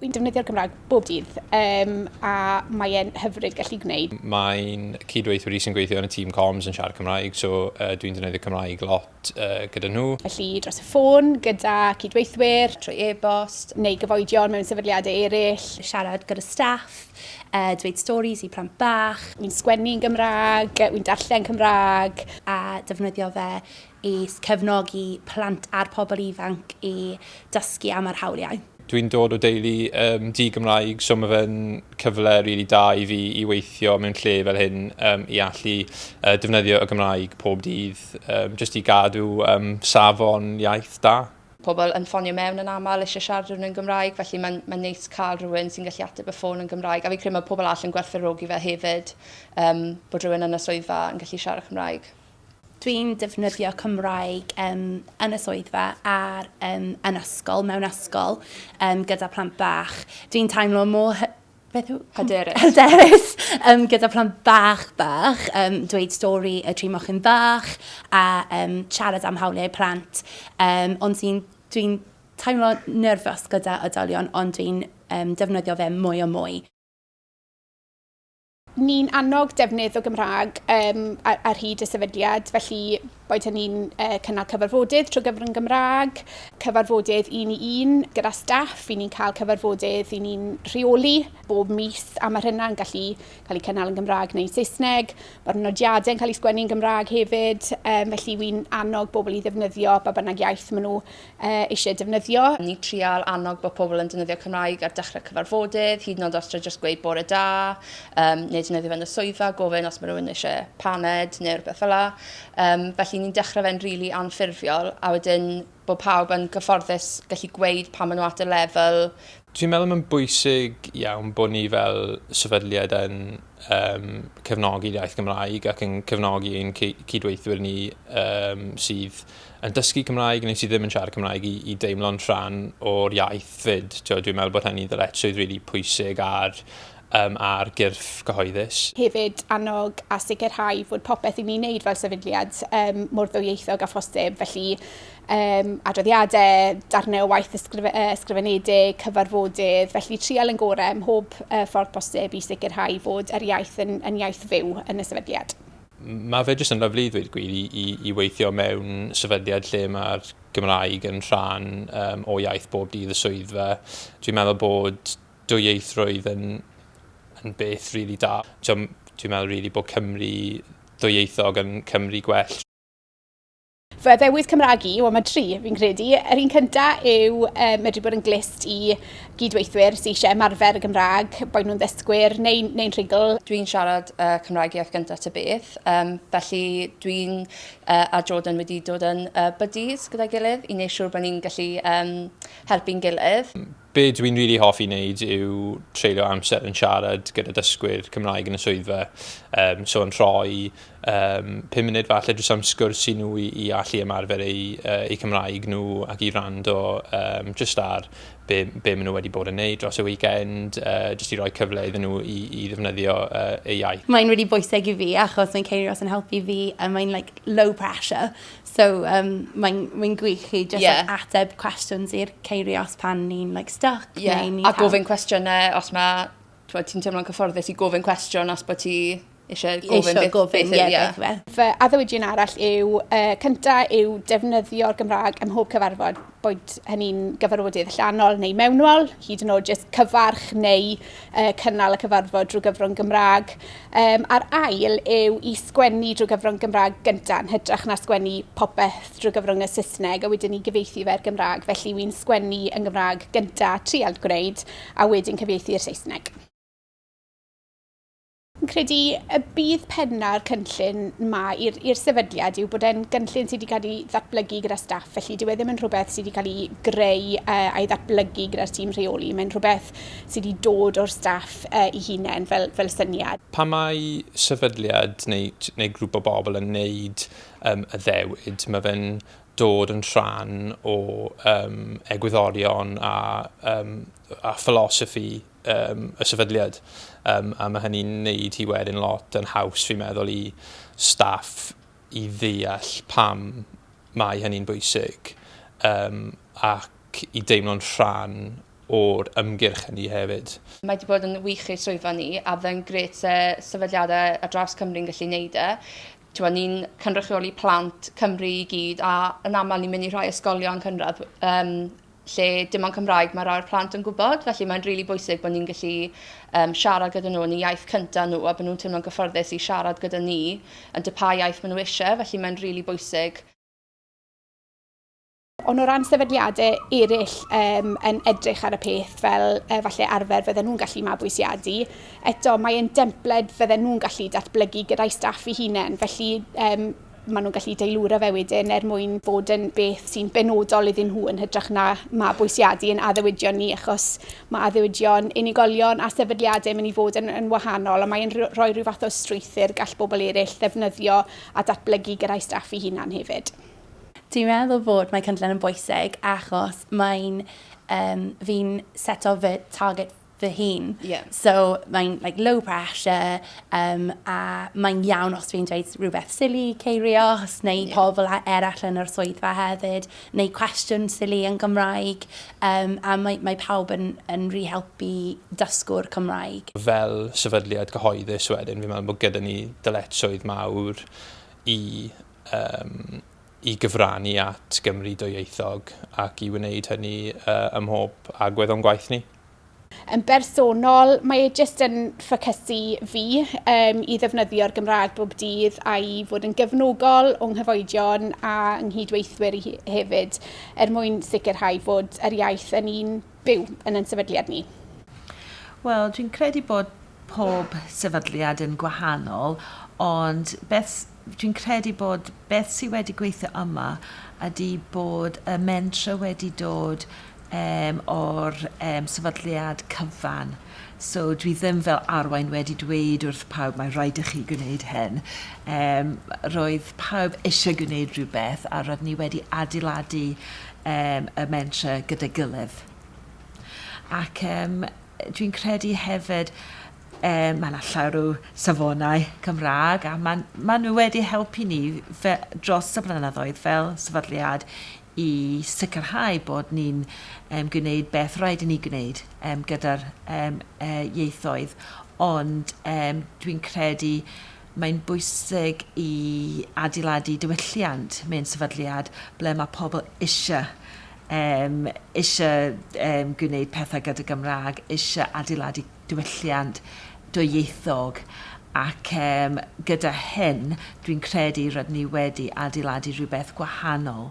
Fi'n defnyddio'r Gymraeg bob dydd um, a mae'n hyfryd gallu gwneud. Mae'n cydweithwyr i sy'n gweithio yn y tîm comms yn siarad Cymraeg, so uh, dwi'n defnyddio Cymraeg lot uh, gyda nhw. Felly dros y ffôn, gyda cydweithwyr, trwy e-bost, neu gyfoedion mewn sefydliadau eraill. Siarad gyda staff, uh, dweud storis i plant bach. Wi'n sgwennu yn Gymraeg, wi'n darllen Cymraeg, a defnyddio fe i cefnogi plant a'r pobl ifanc i dysgu am yr hawliau. Dwi'n dod o deulu um, di-Gymraeg, so mae fe'n cyfle rili really da i fi i weithio mewn lle fel hyn um, i allu uh, defnyddio y Gymraeg pob dydd, um, jyst i gadw um, safon iaith da. Pobl yn ffonio mewn yn aml eisiau siarad rhywun yn Gymraeg, felly mae'n mae'n neis cael rhywun sy'n gallu ateb y ffôn yn Gymraeg, a fi'n credu mae pobl all yn gwerthfawrogi fe hefyd, um, bod rhywun yn y swyddfa yn gallu siarad Cymraeg. Dwi'n defnyddio Cymraeg um, yn y swyddfa ar um, yn ysgol, mewn ysgol, um, gyda plant bach. Dwi'n teimlo mor beth yw... Hyderus. Hyderus, um, gyda plant bach bach, um, dweud stori y tri mochyn bach a um, siarad am hawliau plant. Um, ond sy'n, dwi'n teimlo nerfus gyda oedolion, ond dwi'n um, defnyddio fe mwy o mwy. Ni'n annog defnydd o Gymraeg um, ar, ar hyd y sefydliad, felly Boed hynny'n cynnal cyfarfodydd trwy gyfrwng Gymraeg, cyfarfodydd un i un gyda staff, i ni'n cael cyfarfodydd i ni'n rheoli bob mis a mae hynna'n gallu cael ei cynnal yn Gymraeg neu'n Saesneg. Mae'r nodiadau'n cael ei sgwennu yn Gymraeg hefyd, um, felly wy'n annog bobl i ddefnyddio ba bynnag iaith maen nhw eisiau defnyddio. Ni'n trial annog bod pobl yn defnyddio Cymraeg ar dechrau cyfarfodydd, hyd yn oed os tra jyst gweud bore da, um, neu defnyddio fe'n y swyddfa, gofyn os mae rhywun eisiau paned neu rhywbeth fel la. Um, felly ni'n dechrau fe'n rili really anffurfiol, a wedyn bod pawb yn gyfforddus gallu gweud pa maen nhw at y lefel Dwi'n meddwl mae'n bwysig iawn bod ni fel sefydliad yn yn cefnogi'r iaith Gymraeg ac yn cefnogi ein cydweithwyr ni um, sydd yn dysgu Cymraeg neu sydd ddim yn siarad Cymraeg i, i deimlo'n rhan o'r iaith fyd. Dwi'n meddwl bod hynny'n ddyletswydd rili really pwysig ar, um, ar gyrff cyhoeddus. Hefyd annog a sicrhau fod popeth i ni'n neud fel sefydliad um, mor ddwyieithog a phosib. Felly um, adroddiadau, darnau o waith ysgrif uh, ysgrifenedig, cyfarfodydd, felly trial yn gorau ym mhob uh, ffordd posib i sicrhau fod yr iaith yn, yn iaith fyw yn y sefydliad. Mae fe jyst yn lyflu i ddweud gwir i, i, i weithio mewn sefydliad lle mae'r Gymraeg yn rhan um, o iaith bob dydd y swyddfa. Dwi'n meddwl bod dwyieithrwydd yn, yn beth rili really da. Dwi'n meddwl rili really bod Cymru ddwyieithog yn Cymru gwell. Fy ddewis Cymraeg i, wel mae tri fi'n credu. Yr un cynta yw uh, medru bod yn glist i gydweithwyr sy'n eisiau ymarfer y Gymraeg, boed nhw'n ddysgwyr neu'n neu rhugl. Dwi'n siarad uh, Cymraeg iaith gyntaf ty beth, um, felly dwi'n uh, a Jordan wedi dod yn uh, buddies gyda'i gilydd i wneud siŵr bod ni'n gallu um, helpu'n gilydd. Be dw i'n rili hoffi wneud yw treulio amser yn siarad gyda dysgwyr Cymraeg yn y swyddfa. Um, so yn rhoi um, 5 munud falle drwy am sgwrs i nhw i, i allu ymarfer eu, uh, eu Cymraeg nhw ac i rando um, just ar be, be maen nhw wedi bod yn neud dros y weekend, uh, just i roi cyfle iddyn nhw i, i ddefnyddio uh, eu iaith. Mae'n really bwysig i fi achos mae'n ceir os yn helpu fi a mae'n like low pressure. So um, mae'n mae gwych chi just yeah. like, ateb cwestiwn i'r ceiriau os pan ni'n like, stuck. Yeah. Neu ni a gofyn cwestiynau os mae... Ti'n teimlo'n cyfforddus i gofyn cwestiwn os bod ti eisiau gofyn beth, gofyn, beth, yeah, beth, beth. Fy addewidion arall yw, uh, cyntaf yw defnyddio'r Gymraeg ym mhob cyfarfod. boed hynny'n gyfarfodydd allanol neu mewnol, hyd yn oed jyst cyfarch neu uh, cynnal y cyfarfod drwy gyfrwng Gymraeg. Um, a'r ail yw i sgwennu drwy gyfrwng Gymraeg gyntaf yn hytrach na sgwennu popeth drwy gyfrwng y Saesneg a wedyn ni gyfeithi fe'r Gymraeg. Felly wy'n sgwennu yn Gymraeg gyntaf, trial gwneud, a wedyn cyfeithi i'r Saesneg. Fi'n credu y bydd penna'r cynllun ma i'r sefydliad yw bod e'n gynllun sydd wedi cael ei ddatblygu gyda staff, felly dyw e ddim yn rhywbeth sydd wedi cael ei greu uh, a'i ddatblygu gyda'r tîm rheoli. Mae'n rhywbeth sydd wedi dod o'r staff uh, i hunain fel, fel syniad. Pa mae sefydliad neu, neu grŵp o bobl yn neud um, y ddewyd, mae fe'n dod yn rhan o um, egwyddorion a, um, a philosophy um, y sefydliad. Um, a mae hynny'n neud hi wedyn lot yn haws, fi'n meddwl, i staff i ddeall pam mae hynny'n bwysig um, ac i deimlo'n rhan o'r ymgyrch hynny hefyd. Mae wedi bod yn wych i'r swyddfa ni a fe'n gret se sefydliadau ar draws Cymru'n gallu neud e. Tewa, ni'n cynrychioli plant Cymru i gyd a yn aml ni'n mynd i rhai ysgolion cynradd um, lle dim ond Cymraeg mae rhai'r plant yn gwybod, felly mae'n rili bwysig bod ni'n gallu um, siarad gyda nhw yn y iaith cyntaf nhw a bod nhw'n teimlo'n gyffyrddus i siarad gyda ni yn dy pa iaith maen nhw eisiau, felly mae'n rili really bwysig Ond o ran sefydliadau eraill um, yn edrych ar y peth fel uh, falle arfer fydden nhw'n gallu mabwysiadu, eto mae'n dempled fydden nhw'n gallu datblygu gyda'i staff i hunain. Felly um, maen nhw'n gallu deilwra fe wedyn er mwyn bod yn beth sy'n benodol iddyn nhw yn hytrach na mabwysiadu yn addewidion ni achos mae addewidion unigolion a sefydliadau yn mynd i fod yn, yn wahanol a mae'n rhoi rhyw fath o strwythyr gall bobl eraill ddefnyddio a datblygu gyrra'i staff i hunan hefyd. Dwi'n meddwl fod mae cynllun yn bwysig achos mae'n um, fi'n seto fy target fy hun. Yeah. So mae'n like, low pressure um, a mae'n iawn os dwi'n dweud rhywbeth silly, ceirios, neu yeah. pobl eraill yn yr swyddfa hefyd, neu cwestiwn silly yn Gymraeg, um, a mae, mae pawb yn, yn rhi helpu dysgwr Cymraeg. Fel sefydliad cyhoeddus wedyn, fi'n meddwl bod gyda ni dyletswydd mawr i um, i gyfrannu at Gymru dwyieithog ac i wneud hynny uh, ymhob agwedd o'n gwaith ni. Yn bersonol, mae e jyst yn ffocysu fi um, i ddefnyddio'r Gymraeg bob dydd a'i fod yn gefnogol o'n nghyfoedion a nghydweithwyr i hefyd, er mwyn sicrhau fod yr iaith yn un byw yn yn sefydliad ni. Wel, dwi'n credu bod pob sefydliad yn gwahanol, ond beth dwi'n credu bod beth sydd wedi gweithio yma ydy bod y mentra wedi dod yym o'r yym sefydliad cyfan. So dwi ddim fel arwain wedi dweud wrth pawb mae rhaid i chi gwneud hyn. Yym roedd pawb eisiau gwneud rhywbeth a roedd ni wedi adeiladu yym y mentre gyda'i gilydd. Ac yym dwi'n credu hefyd yy mae 'na llawer o safonau Cymraeg a ma'n ma' nhw wedi helpu ni fe- dros y blynyddoedd fel sefydliad i sicrhau bod ni'n gwneud beth rhaid i ni gwneud gyda'r ieithoedd, ond dwi'n credu mae'n bwysig i adeiladu diwylliant mewn sefydliad ble mae pobl eisiau eisiau gwneud pethau gyda Gymraeg, eisiau adeiladu diwylliant dwyieithog ac yym gyda hyn dwi'n credu rydyn ni wedi adeiladu rhywbeth gwahanol.